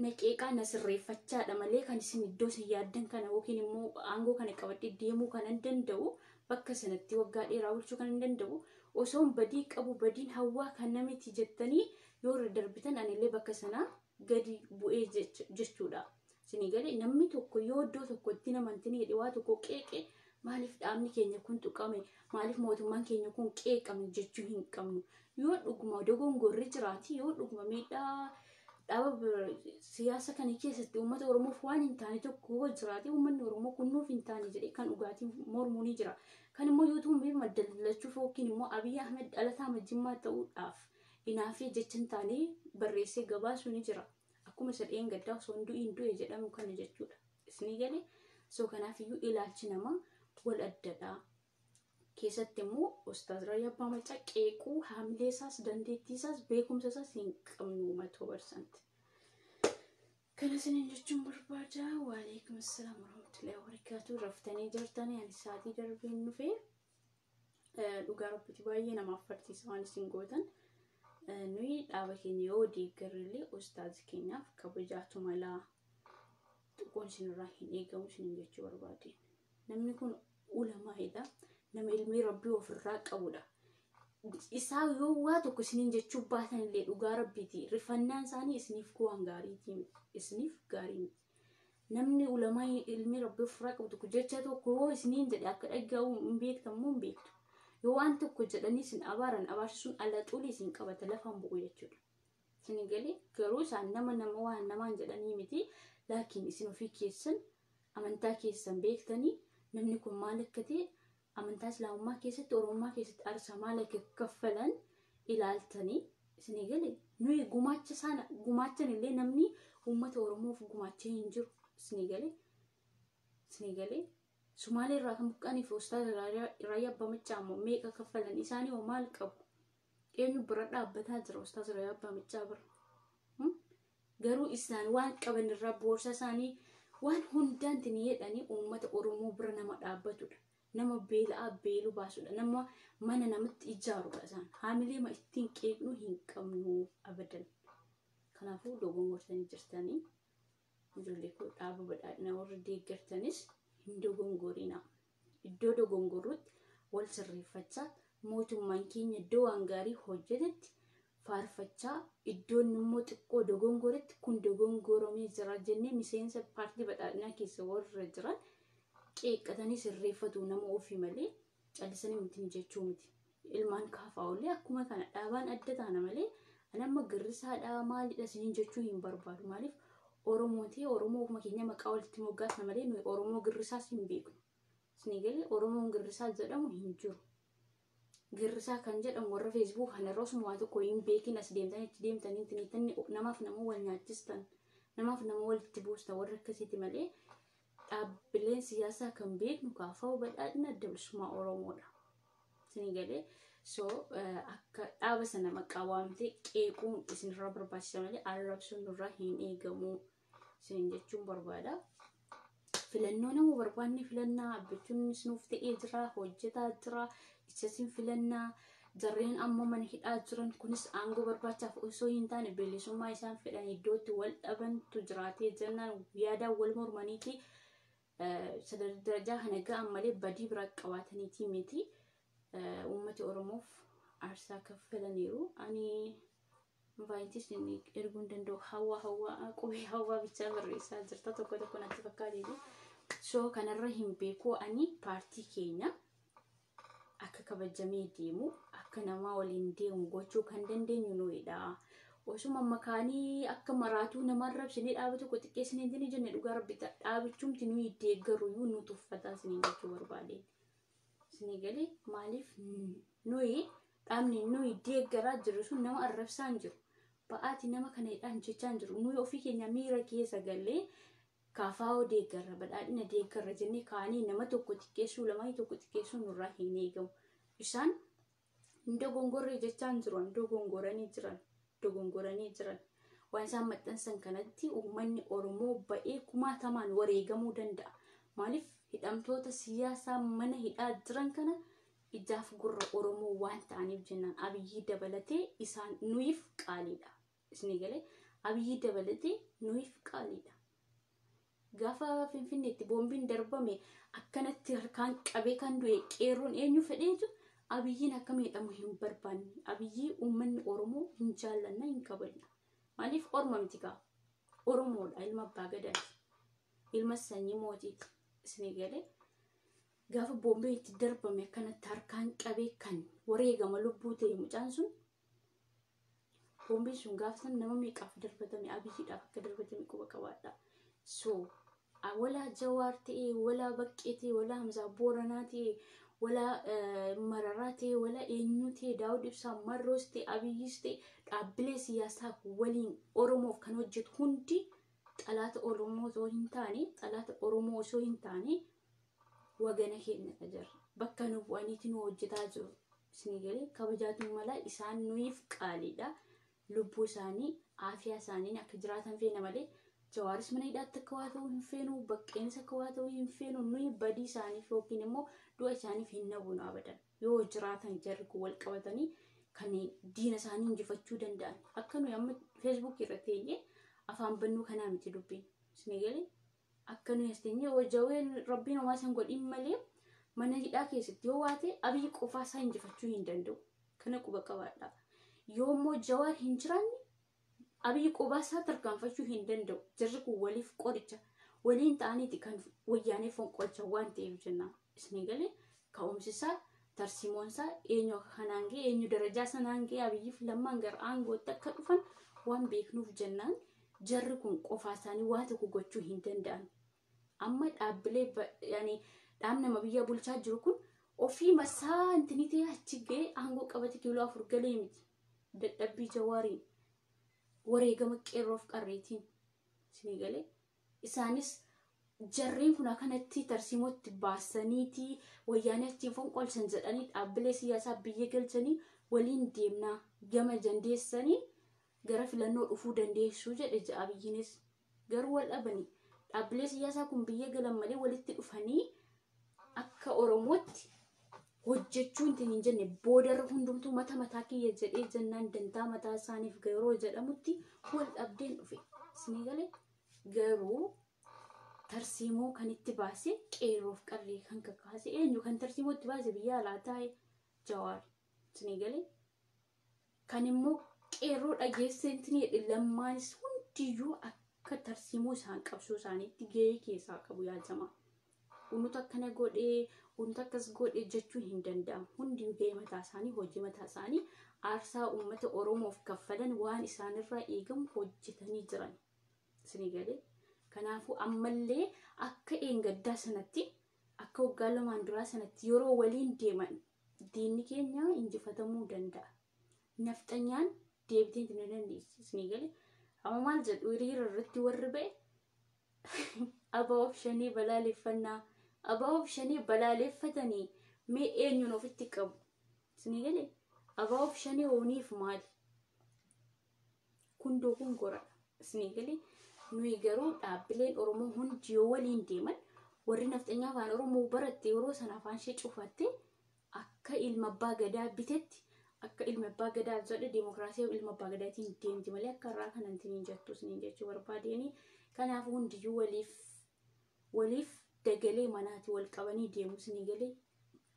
na qeeqaa na sirreeffachaadha malee kan isin iddoo isin yaaddan kana yookiin immoo aangoo kana qabadhee deemuu kan hin danda'u bakka sanatti waggaa dheeraa bulchuu kan hin danda'u osoon badii qabu badiin hawwaa kana miti jettanii yoo irra darbitan anillee bakka sana gadi bu'ee jechuudha. Isinii galee namni tokko yoo iddoo tokkotti namantinii jedhe waa tokko qeeqe Maaliif dhaabni keenya kun tuqame? Maaliif mootummaan keenya kun qeeqame jechuu hin qabnu. Yoo dhuguma dogongorri jiraate, yoo dhuguma miidhaa dhaaba bir- siyaasa kana keessatti uummata Oromoof waan hin taane tokko yoo jiraate, uummanni Oromoo kun nuuf hin taane jedhee kan dhugaatiin mormuu ni jira. Kan immoo yoo tuumee maddallachuuf yookiin immoo Abiy Ahmed dhalataa majjimmaa ta'uudhaaf inaafee jecha hin taane barreessee gabaasuu ni jira. Akkuma isa dheengaddaa osoo hin du'iin du'e jedhamu kana jechuudha. Isni gale soo kanaaf iyyuu ilaalchi namaa wal addadha. Keessatti immoo Ustaaz Rayyaa Abbaa Maccaa qeequu haamilee isaas dandeettii isaas beekumsa isaas hin qabnu matoo barsanti. Kana isiniin jechuun barbaada. Waalaikum assalam warahmatullahi wabarakatuh. Raftanii jirtanii ani sa'aatii darbeen dhufee. dhugaa rabbitti baay'ee namaaf farsiisa waan isin gootan nuyi dhaaba keenya yoo deeggarrellee ustaazi keenyaaf kabajaatu malaa xiqqoon isinirraa hin eegamu isinin jechuu barbaade namni kun ulamaa'edha nama ilmii rabbii ofirraa qabudha isaa yoo waa tokko isinin jechuu baatanillee dhugaa rabbiiti rifannaan isaanii isiniif waan gaariiti isiniif gaarii miti namni ulamaa ilmi rabbi ofirraa qabu tokko jecha tokko yoo isiniin jedhe akka dhaga'u hin beektan moo hin beektu yoo waan tokko jedhanii isin abaaran abaarsisuun ala xulii isin qabata lafaan bu'u jechuudha. Isin galee garuu isaan nama nama waan namaan jedhanii miti laakiin isin ofii keessan amantaa keessan beektanii namni kun maal akka ta'e Amantaa Islaamummaa keessatti Oromummaa keessatti aarsaa maal akka kaffalan ilaaltanii isinii gale nuyi gumaacha sana gumaachan illee namni uummata Oromoof gumaachee hin jiru isinii gale isinii gale Sumaalee irraa kan buqqaniif Ustaaz Raayyaa Abbaa Maccaa immoo meeqa kaffalan isaanii hoo maal qabu eenyu bira dhaabbataa jira Ustaaz Raayyaa Abbaa Maccaa bira Garuu isaan waan qaban irraa boorsaa isaanii waan hundaan tiniyeedhanii uummata Oromoo bira nama dhaabbatudha. Nama beela'aa beelu baasudha. Nama mana namatti ijaarudha isaan. Haamilee ma ittiin qeeqnu hin qabnu abadan. Kanaafuu dogongortanii jirtanii. Ijoollee koo dhaaba badhaadhina warri deeggartanis hin dogongorinaa. Iddoo dogongorrutti wal sirreeffachaa, mootummaan keenya iddoo waan gaarii hojjetetti faarfachaa, iddoo inni immoo xiqqoo dogongoretti kun dogongoramee jira jennee miseensa paartii badhaadhinaa keessa warra jiran qeeqqatanii sirreeffatu nama ofii malee callisanii miti jechuu miti. Ilmaan kaafaa'ollee akkuma kana dhaabaan adda taana malee ani amma girrisaadhaa maalidha isiniin jechuu hin barbaadu. Maaliif Oromoo ta'e Oromoo ofuma keenya maqaa walitti moggaasna malee nuyi Oromoo girrisaas hin beeknu. Isinii galee Oromoon girrisaa jedhamu hin jiru. Girrisaa kan jedhamu warra feesbuuk kanarra osuma waa tokko hin beekin as deemtan itti deemtan hin tiniitan namaaf nama wal nyaachistan namaaf nama walitti buustan warra akkasiiti malee dhaabbileen siyaasaa kan beeknu kaafa'u badhaadhina adda bilisummaa Oromoodha. Isinii galee so akka dhaaba sana maqaa waamtee qeequun isinirraa barbaachisa malee arrabsuun nurraa hin eegamu isin jechuun barbaada. Filannoo nama barbaanne filannaa abbichuunis nuuf ta'ee jira hojjetaa jira Isasiin filannaa jarreen amma mana hidhaa jiran kunis aangoo barbaachaaf osoo hin taane bilisummaa isaan fedhan iddootti wal dhabantu jiraatee jennaan yaadaan wal mormaniiti sadarkaa darajaa kana ga'an malee badii biraa qabaataniitii miti uummati Oromoof aarsaa kaffalaniiru. Ani invaayitis inni erguu hin danda'u hawaa hawaa qubee hawaa bichaa barreessaa jirta tokko tokko natti fakkaatiitu soo kanarra hin beeku ani paartii keenya akka kabajamee deemu akka namaa waliin deemu gochuu kan dandeenyu nuidha osuma makaanii akka maraatuu nama arrabsinee dhaaba tokko xiqqeessinee hin jenne dhugaa rabbi dhaabichumti nuyi deeggaru iyyuu nu tuffataa isiniin jechuu barbaadeen. Isinii galee maaliif nuyi dhaabni nuyi deeggaraa jirru sun nama arrabsaa hin jiru. Ba'aati nama kana hidhaan jechaa hin jiru. Nuyi ofii keenya miira keessa gallee kaafaa'oo deeggarra badhaadhina deeggarra jennee kaanee nama tokko xiqqeessuu lamaa tokko xiqqeessuu nurraa hin eegamu. Isaan hin dogongorre jechaan jiru an dogongoranii jiran dogongoranii jiran waan isaan maxxansan kanatti uummanni oromoo ba'ee kumaatamaan wareegamuu danda'a maaliif hidhamtoota siyaasaa mana hidhaa jiran kana ijaaf gurra oromoo waan ta'aniif jennaan abiyyii dabalatee isaan nuyiif qaaliidha Isni galee Abiyyii dabalatee nuyiif qaaliidha. Gaafa Finfinneetti boombiin darbame akkanatti harkaan qabee kan du'e qeerroon eenyu fedheetu Abiyyiin akka miidhamu hin barbaanne. Abiyyii uummanni Oromoo hin jaallanna hin kabajna. Maaliif orma miti kaa? Oromoodha ilma abbaa gadaati. Ilma sanyii mootiiti. Isni galee gaafa boombiin itti darbame akkanatti harkaan qabee kan wareegama lubbuu ta'e mucaan sun Boombiin sun gaafa sana nama meeqaaf darbatame abiyyiidhaaf akka darbatame quba qabaadha. So walaa jawaar ta'ee walaa baqqee ta'ee walaa hamzaa booranaa ta'ee walaa mararaa ta'ee walaa eenyuu ta'ee daawud ibsaa marroos ta'ee abiyyis ta'ee dhaabbilee siyaasaa waliin oromoof kan hojjetu hundi xalaata oromoo osoo hin taane xalaata oromoo osoo hin taane wagana keenya ka jira bakka nu bu'aniiti nu hojjetaa jiru isinii galee kabajaatu mala isaan nuyiif qaaliidha lubbuu isaanii aafiyaa isaaniin akka jiraatan feena malee jawaaris mana hidhaatti akka waa ta'uu hin feenu baqqeenis akka waa ta'uu hin feenu nuyi badii isaaniif yookiin immoo du'a isaaniif hin nabunu abadan yoo jiraatan jarri kun wal qabatanii kan diina isaanii injifachuu danda'an akka nuyi amma feesbuukii irratti teenyee afaan bannuu kanaa miti dubbiin isinii galee Akka nuyi as teenyee yoo jaween rabbiin homaa san godhin malee mana hidhaa keessatti yoo waate abiyyi qofaa isaa injifachuu hin danda'u. Kana quba qabaadha. Yoo immoo jawaar hin jiraanne abiyyi qofaa isaa tarkaanfachuu hin danda'u. Jarri kun waliif qoricha waliin ta'aniiti kan wayyaanee fonqolchan waan ta'eef jennaan. Isni galee ka'umsi isaa tarsiimoon isaa eenyu akka kanaan ga'e eenyu darajaa sanaan ga'e abiyyii fi lammaan gara aangootti akka dhufan waan beeknuuf jennaan jarri kun qofaa isaanii waa tokko gochuu hin danda'an. Amma dhaabbilee dhaabni nama biyya bulchaa jiru kun ofii masaa intinitee achi ga'e aangoo qabate kiiloo afur galee miti. Dadhabbii jawaariin wareegama qeerroof qarreetiin isni galee Isaanis jarreen kun akanatti tarsiimootti baasaniiti wayyaanee achiin fonqolchan jedhanii dhaabbilee siyaasaa biyya galchanii waliin deemnaa gama dandeessanii gara filannoo dhufuu dandeessuu jedhe ja'a Abiyyiinis. Garuu wal dhabani dhaabbilee siyaasaa kun biyya galan malee walitti dhufanii akka oromootti hojjechuun tin hin jenne boodarra hundumtuu mata mataa kiyya jedhee jennaan dantaa mataa isaaniif garoo jedhamutti wal dhabdeen dhufe isinii galee garuu tarsiimoo kan itti baase qeerroof qarree kan kakaase eenyu kan tarsiimoo itti baase biyya alaa taa'e jawaar isinii galee kan immoo qeerroo dhageessee intinii jedhe lammaanis hundiyyuu akka tarsiimoo isaan qabsoo isaaniitti gahee keessaa qabu yaa jamaa. unuta akkana godhe unuta akkas godhe jechuun hin danda'amu hundi gahee mataa isaanii hojii mataa isaanii aarsaa uummata oromoof kaffalan waan isaanirraa eegamu hojjetanii jiran isinii galee kanaafuu ammallee akka eengaddaa sanatti akka waggaa lamaan duraa sanatti yeroo waliin deeman diinni keenya injifatamuu danda'a nafxanyaan deebitee hin dandeessi isinii galee amma maal jedhu hiriira irratti warri ba'e Aba'oof shanee balaaleffannaa. Aba'oof shanee balaaleffatanii mee eenyuun ofitti qabu? Isinii galee? Aba'oof shanee hooniif maali? Kun dogongoradha. Isinii galee? Nuyi garuu dhaabbileen Oromoo hundi yoo waliin deeman warri nafxanyaa afaan Oromoo baratte yeroo sana afaan ishee cufatte Akka ilma abbaa gadaa bitetti akka ilma abbaa gadaa jedhe dimokiraasii ilma abbaa gadaatiin deemti malee akka irraa kanan tiniin jettu siniin jechuu barbaadeen kanaaf hundiyyuu waliif waliif dagalee manaati wal qabanii deemu sinii galee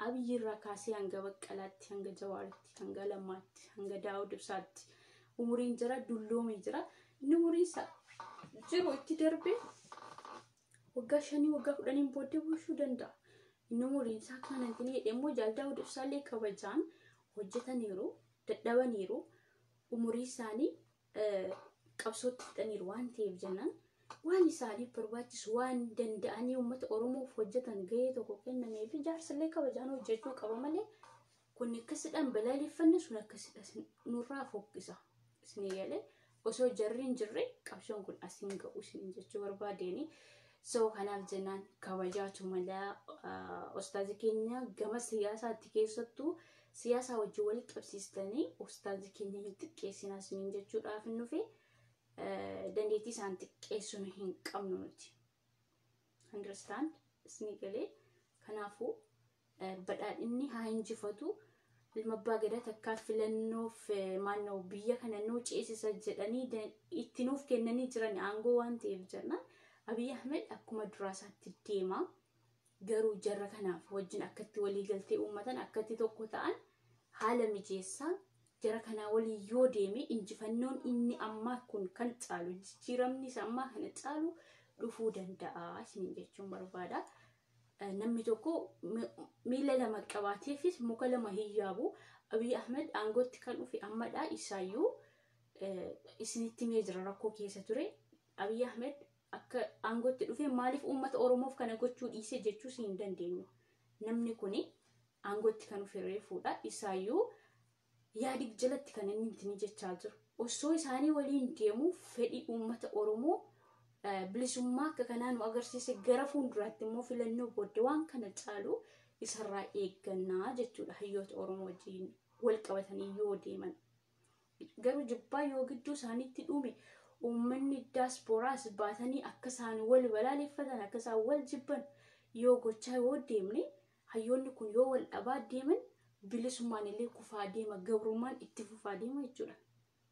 abiyyi irraa kaasee hanga baqqalaatti hanga jawaaritti hanga lammaatti hanga daawud ibsaatti umuriin jira dulloomee jira inni umuriin isaa jiru itti darbee waggaa shanii waggaa kudhaniin booddee bulchuu danda'a. Inni umuriin isaa akka mana hin hidhe immoo jaal Daawud Ibsaallee kabajaan hojjetaniiru, dadhabaniiru, umurii isaanii qabsootti fixaniiru waan ta'eef jennaan waan isaaniif barbaachisu waan danda'anii uummata Oromoof hojjetan gahee tokko kennamee fi jaarsallee kabajaan hojjechuu qaba malee Kun akkasidhaan balaaleffanna sun akkasidha nurraa fokkisa isin eegalee osoo jarri hin jirre qabsoon kun as hin ga'u isin jechuu barbaadeeni. So kanaaf jennaan kabajaatu mala ustaazi keenya gama siyaasaatti keessattuu siyaasaa wajjin wal qabsiistanii ustaazi keenya hin xiqqeessinaa isiniin jechuudhaaf hin dhufe dandeettii isaan xiqqeessuun hin qabnu nuti. Understand? Isni galee. Kanaafuu badhaadhinni haa injifatu. Ilma abbaa gadaa takkaa filannoof maannoo biyya kana nuu ceesisa jedhanii itti nuuf kennanii jiran aangoo waan ta'eef jennaan Abiy Ahmed akkuma duraa isaatti deema. Garuu jarra kanaaf wajjin akkatti walii galtee uummatan akkatti tokko ta'an haala mijeessaa jara kanaa waliin yoo deeme injifannoon inni ammaa kun kan caalu jijjiiramni isa ammaa kana caalu dhufuu danda'a isiniin jechuun barbaada. Eh, Namni tokko mi- miila lama qabaateefis muka lama hin yaabu. Abiy Ahmed aangootti kan dhufe ammadha isaayyuu eh, isinitti himee jira rakkoo keessa ture. Abiy Ahmed akka aangootti dhufee maaliif uummata Oromoof kana gochuu dhiisee jechuus hin dandeenyu. Namni kun aangootti kan dhufe reefuudha. Isaayyuu yaadig jalatti kan inni ittiin jechaa jiru. Osoo isaanii waliin deemu fedhii uummata Oromoo bilisummaa akka kanaa nu agarsiise gara fuulduraatti immoo filannoo booddee waan kana caalu isarraa eeggannaa jechuudha hayyoota Oromoo wajjin wal qabatanii yoo deeman. Garuu jibbaa yoo gidduu isaaniitti dhuume uummanni daaspooraas baatanii akka isaan wal balaaleffatan akka isaan wal jibban yoo gochaa yoo deemne hayyoonni kun yoo wal dhabaa deeman bilisummaan illee kufaa deema gabrummaan itti fufaa deema jechuudha.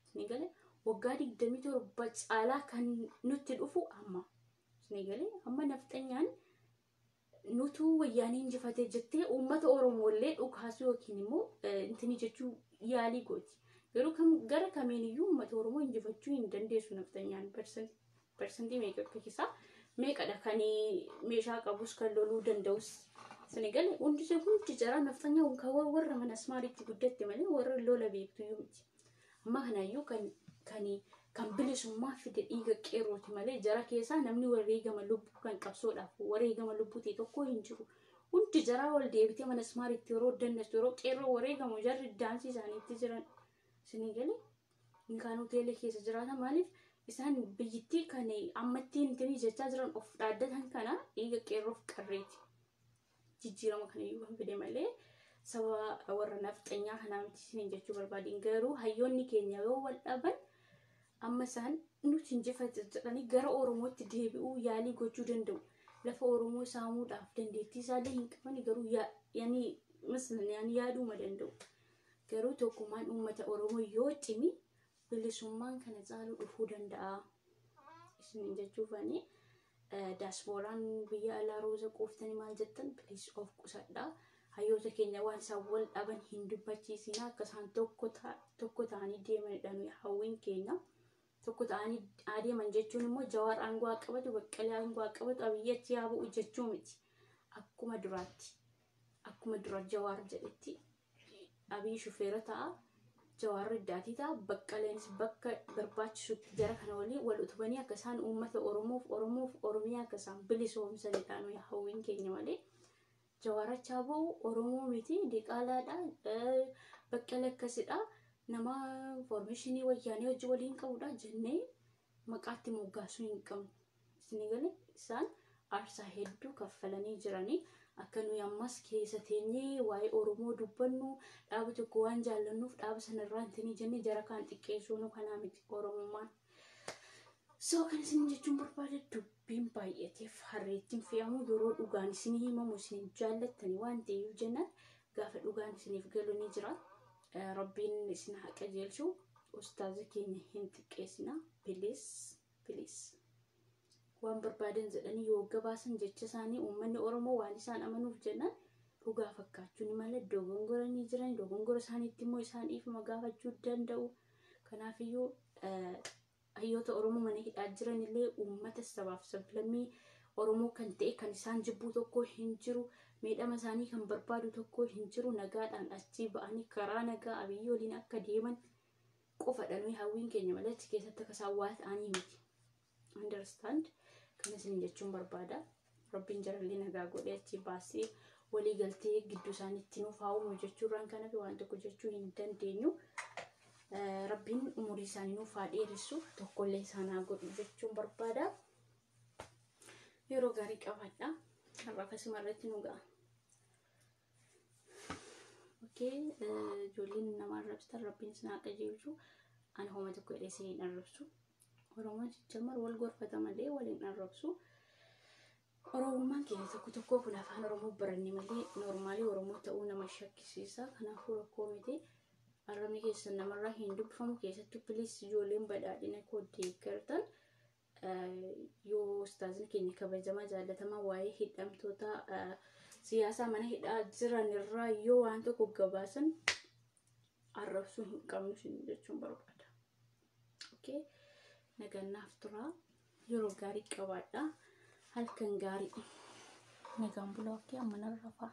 Isin galee waggaa 27 caalaa kan nutti dhufu amma. Isin galee amma nafxanyaan nutuu wayyaanii injifatee jettee uummata Oromoollee dhukaasuu yookiin immoo intini jechuu yaalii gooti. Garuu kam gara kamiin iyyuu uummata Oromoo injifachuu hin dandeessu nafxanyaan parsantii meeqa akka keessaa meeqadha kan meeshaa qabus kan loluu danda'us. Sani gale hundi hundi jaraa nafxanyaa warra mana asmaariitti guddatte malee warra lola beektu iyyuu miti. Amma kanaayyuu kan kan kan bilisummaa fide dhiiga qeerrooti malee jara keessaa namni wareegama lubbuu kan qabsoodhaaf wareegama lubbuu ta'e tokko hin jiru. Hundi jaraa wal deebitee mana ismaaritti yeroo dandastu yeroo qeerroo wareegamu jarri daansii isaaniitti jiran. Isinii galee inni kaan hoteela keessa jiraata maaliif isaan biyyittii kan ammatti intini jechaa jiran of dhaaddatan kana dhiiga qeerroof qarreeti. jijjiirama kana iyyuu kan fide malee sababa warra nafxanyaa kanaa miti isiniin jechuu barbaadeen garuu hayyoonni keenya yoo wal dhaban amma isaan nuti injifatu jedhanii gara Oromootti deebi'uu yaalii gochuu danda'u. Lafa Oromoo saamuudhaaf dandeettii isaallee hin qaban garuu yaa- yani mislan yani yaaduma danda'u. Garuu tokkummaan uummata Oromoo yoo cimi bilisummaan kana caalu dhufuu danda'a isiniin jechuufani daasbooraan biyya alaa rooza quuftanii maal jettan please of qusadha hayyoota keenya waan isaan wal dhaban hin dubbachiisina akka isaan tokko ta- tokko ta'anii deemanidha nuyi hawwiin keenya tokko ta'anii adeeman jechuun immoo jawaar aangoo haa qabatu baqqalee aangoo haa qabatu abiyyi achi haa bu'u jechuu miti akkuma duraatti akkuma dura jawaar jedhetti Abiy shufeera ta'a, Jawaar reddaatii ta'a, Baqqaleenis bakka barbaachisutti jara kana waliin wal utubanii akka isaan uummata Oromoof Oromoof Oromiyaa akka isaan bilisoomsanidha nuyi hawwiin keenya malee. Jawaar achaa ba'u Oromoo miti diqaalaadha, Baqqala akkasidha, nama foormeeshinii wayyaanee hojii waliin qabudha jennee maqaa itti moggaasuu hin qabnu. Isinii galee? Isaan aarsaa hedduu kaffalanii jiranii akka nuyi ammas keessa teenyee waa'ee Oromoo dubbannu dhaaba tokko waan jaallannuuf dhaaba sana irraa hintinii jennee jara kaan xiqqeessuu nu kanaa miti Oromummaan. So kan isin jechuun barbaade dubbiin baay'ateef harreettiin fe'amu yeroo dhugaan isinii himamu isin hin jaallattani waan ta'eef jennaan gaafa dhugaan isiniif galu ni jira. Rabbiin isin haa qajeelchu. Ustaaza keenya hin xiqqeessina. Piliis piliis. Waan barbaadan jedhanii yoo gabaasan jecha isaanii uummanni Oromoo waan isaan amanuuf jennaan dhugaa fakkaachuu ni mala dogongora ni jiran dogongora isaaniitti immoo isaan dhiifama gaafachuu danda'u. Kanaafiyyuu Hayyoota Oromoo mana hidhaa jiran illee uummata sabaaf sablammii Oromoo kan ta'e kan isaan jibbuu tokko hin jiru. Miidhama isaanii kan barbaadu tokko hin jiru. Nagaadhaan achii ba'anii karaa nagaa Abiyyi waliin akka deeman qofadha nuyi hawwiin keenya malee achi keessatti akka isaan waa ta'anii miti. Understand? Kana isin jechuun barbaada. Rabbiin jarallee nagaa godhee achi baasee walii galtee gidduu isaaniitti nuuf haa uumu jechuurraan kana fi waan tokko jechuu hin dandeenyu. Eh, Rabbiin umurii isaanii nuuf haa dheeressu tokkollee isaan haa godhu jechuun barbaada. Yeroo gaarii qabaadha. Har'a kasuma irratti nu ga'a. Okee, eh, ijoolleen nama arrabsitan rabbiin isin haa qajeelchu. Ani homa tokko jedhee isin hin arrabsu. Oromoon sijjamar wal gorfata malee wal hin arrabsu. Oromummaan keenya tokko tokkoo kun afaan Oromoo baranne malee noormaalii Oromoo ta'uu nama shakkisiisa. Kanaafuu rakkoo miti. Arrabni keessan namarraa hin dubbifamu keessattuu piliis ijoolleen badhaadhina koo deeggartan yoo ustaazin keenya kabajamaa jaallatamaa waa'ee hidhamtoota siyaasaa mana hidhaa jiran irraa yoo waan tokko gabaasan arrabsuu hin qabnu jechuun barbaada. Okay. Nagannaaf turaa. Yeroo gaarii qabaadha. Halkan gaarii. Nagaan bulaa. Okay. Amma nan rafaa.